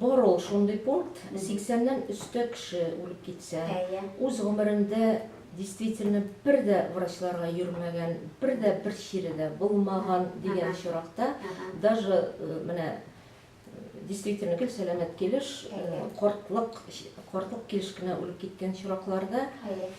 Бар ул шундый пункт, 80-нән өстә кеше үлеп китсә, үз гомерендә действительно бер дә врачларга йөрмәгән, бер дә бер чире дә булмаган дигән очракта, даже э, менә э, действительно гел сәламәт килеш, э, кортлык, кортлык килеш кенә үлеп киткән очракларда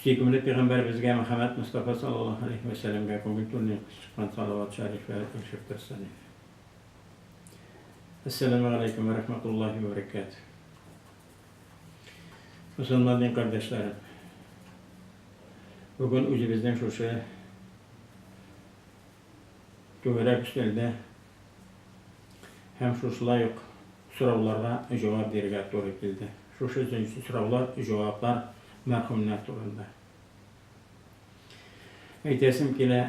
Сөйкемле пигамбәребезгә Мөхәммәд Мостафа саллаллаһу галәйһи вә сәләмгә күңел түреннән күз чыккан салават шәрифләре тыңшып торсын иде. Әссәламү галәйкүм вә рахматуллаһи вә бәрәкәтүһ. Мөселман дин кардәшләрем. Бүген үзебезнең шушы Түгәрәк өстәлдә һәм шушылай ук сорауларга җавап бирергә туры килде. Шушы җенси сораулар, җаваплар мәрхүмнәр турында. Әйтәсем килә,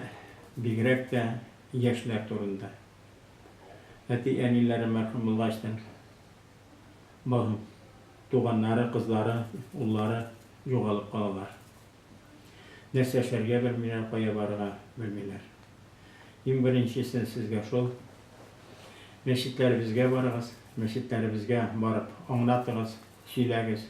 бигрәк тә яшьләр турында. Әти-әниләре мәрхүм булгачтын, туганнары, кызлары, уллары югалып калалар. Нәрсә эшләргә белмиләр, кая барырга белмиләр. Иң беренчесе сезгә шул, мәчетләребезгә барыгыз, мәчетләребезгә барып аңлатыгыз, сөйләгез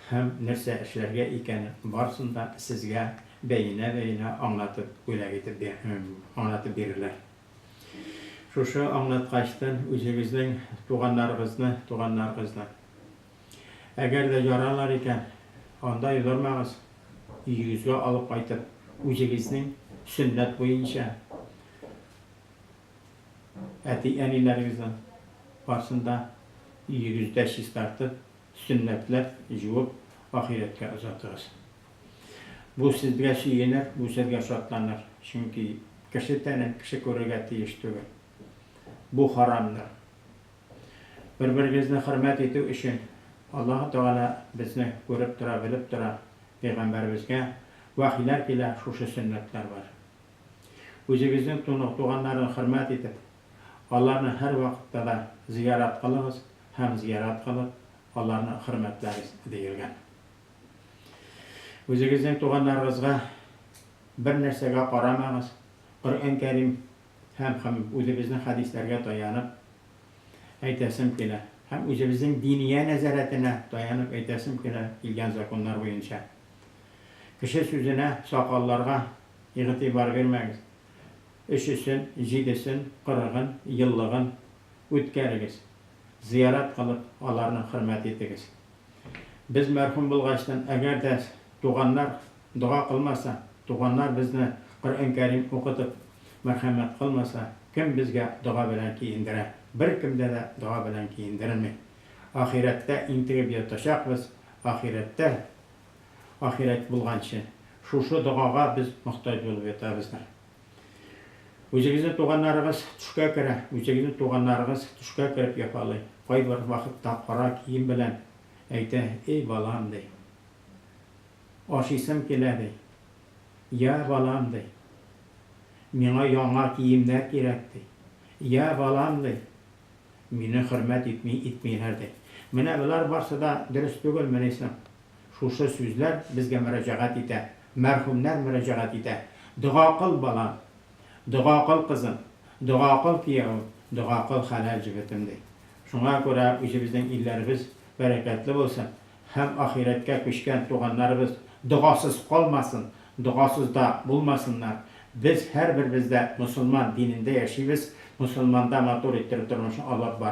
һәм нәрсә эшләргә икәнен барысын да сезгә бәенә-бәенә аңлатып, бүләк итеп бир, аңлатып бирерләр. Шушы аңлаткачтан үзегезнең туганнарыгызны, туганнарыгызны. Әгәр дә яралар икән, анда йодырмагыз, өегезгә алып кайтып, үзегезнең сөннәт буенча әти-әниләрегезнең барсын да өегездә чистартып, сөннәтләп, җуып, ахирәткә озатыгыз. Бу сезгә сөенер, бу сезгә шатланыр, чөнки кеше тәнен кеше күрергә тиеш түгел. Бу харамдыр. Бер-берегезне хөрмәт итү өчен Аллаһы Тәгалә безне күреп тора, белеп тора. Пәйгамбәребезгә вәхиләр килә, шушы сөннәтләр бар. Үзегезнең туганнарны хөрмәт итеп, аларны һәрвакытта да зыярат кылыгыз һәм зыярат кылып, аларны хөрмәтләгез, диелгән. Үзегезнең туганнарыгызга бернәрсәгә карамагыз, Коръән Кәрим һәм һәм үзебезнең хәдисләргә таянып әйтәсем килә, һәм үзебезнең диния нәзарәтенә таянып әйтәсем килә, килгән законнар буенча, кеше сүзенә, сакалларга игътибар бирмәгез, өчесен, җидесен, кырыгын, еллыгын үткәрегез, зыярат кылып, аларны хөрмәт итегез. Без мәрхүм булгачтын, әгәр дә туганнар дога кылмаса, туганнар безне Коръән Кәрим укытып мәрхәмәт кылмаса, кем безгә дога белән киендерә? Беркем дә дә дога белән киендерми. Ахирәттә интегеп ятачакбыз, ахирәттә, ахирәт булганчы, шушы догага без мохтаҗ булып ятабыздыр. Үзегезнең туганнарыгыз төшкә керә. Үзегезнең туганнарыгыз төшкә кереп йокалый. Кайбер вакытта кара кием белән әйтә, Эй, балам, ди. Ашыйсым килә, ди. Я, балам, ди. Миңа яңа киемнәр кирәк, ди. Я, балам, ди. Мине хөрмәт итми, итмиләр, ди. Менә болар барсы да дөрес түгелмени соң? Шушы сүзләр безгә мөрәҗәгать итә, мәрхүмнәр мөрәҗәгать итә, Дога кыл, балам! Дога кыл, кызым! Дога кыл, киявем! Дога кыл, хәләл җегетем! ди. Шуңа күрә үзебезнең илләребез бәрәкәтле булсын һәм ахирәткә күчкән туганнарыбыз догасыз калмасын, догасыз да булмасыннар. Без һәрберебез дә мосылман динендә яшибез, мосылманда матур иттереп тормышны алып барабыз.